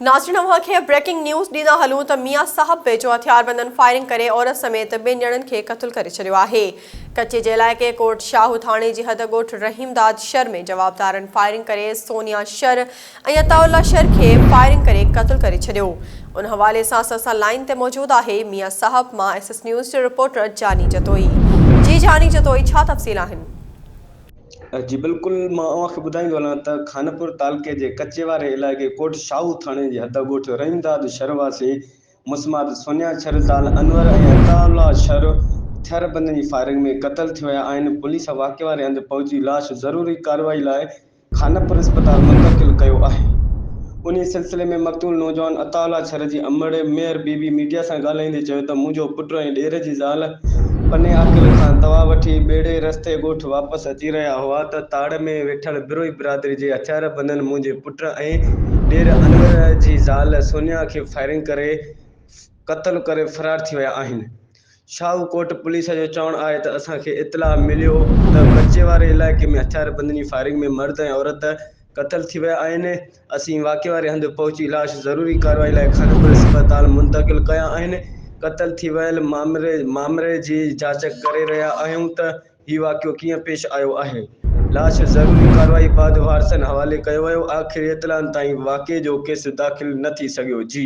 ناظرين اوهان کي بريڪنگ نيوز ڏيندا هلون ته ميان صاحب ويجهو هٿياربندن فائرنگ ڪري عورت سميت ٻن ڄڻن کي قتل ڪري ڇڏيو آهي ڪچي جي علائقي ڪوٽ شاهو ٿاڻي جي حد ڳوٺ رحيم داد شر ۾ جوابدارن فائرنگ ڪري سونيا شر ۽ عطاء الله شر کي فائرنگ ڪري قتل ڪري ڇڏيو ان حوالي سان سان سان لائين تي موجود آهي ميان صاحب مان ايس ايس نيوز جي رپورٽر جاني جتوئي جي جاني جتوئي ڇا تفصيل آهن جي بلڪل مان اوهان کي ٻڌائيندو هلان ته خانپور تعلقي جي ڪچي واري علائقي ڪوٽ شاهو ٿاڻي جي حد ڳوٺ رحيم داد شھر واسي مسمات سونيا شھر زال انور ۽ عطاء الله شھر ھٿيار بندن جي فائرنگ ۾ قتل ٿي ويا آھن پوليس واقعي واري ھنڌ پهچي لاش ضروري ڪارروائي لاء خانپور اسپتال منتقل ڪيو آھي انهيء سلسلي ۾ مقتول نوجوان عطاء الله ڇر جي امڙ مير بي بي ميڊيا سان ڳالهائيندي چيو ته منهنجو پٽ ۽ ڏير جي زال پني عاقل کان دوا وٺي ٻيڙي رستي ڳوٺ واپس اچي رهيا هئا ته تاڙ ۾ ويٺل بروهي برادري جي هٿياربندن منهنجي پٽ ۽ ڏير انور جي زال سونيا کي فائرنگ ڪري قتل ڪري فرار ٿي ويا آهن. شاهو ڪوٽ پوليس جو چوڻ آهي ته اسان کي اطلاع مليو ته ڪچي واري علائقي ۾ هٿياربندن جي فائرنگ ۾ مرد ۽ عورت قتل ٿي ويا آهن، اسين واقعي واري هنڌ پهچي لاش ضروري ڪارروائي لاء خانپور اسپتال منتقل ڪيا آهن، قتل ٿي ويل مامري جي جاچ ڪري رهيا آهيون ته هي واقعو ڪيئن پيش آيو آهي، لاش ضروري ڪارروائي بعد وارثن حوالي ڪيو ويو، آخري اطلاعن تائين واقعي جو ڪيس داخل نه ٿي سگهيو جي.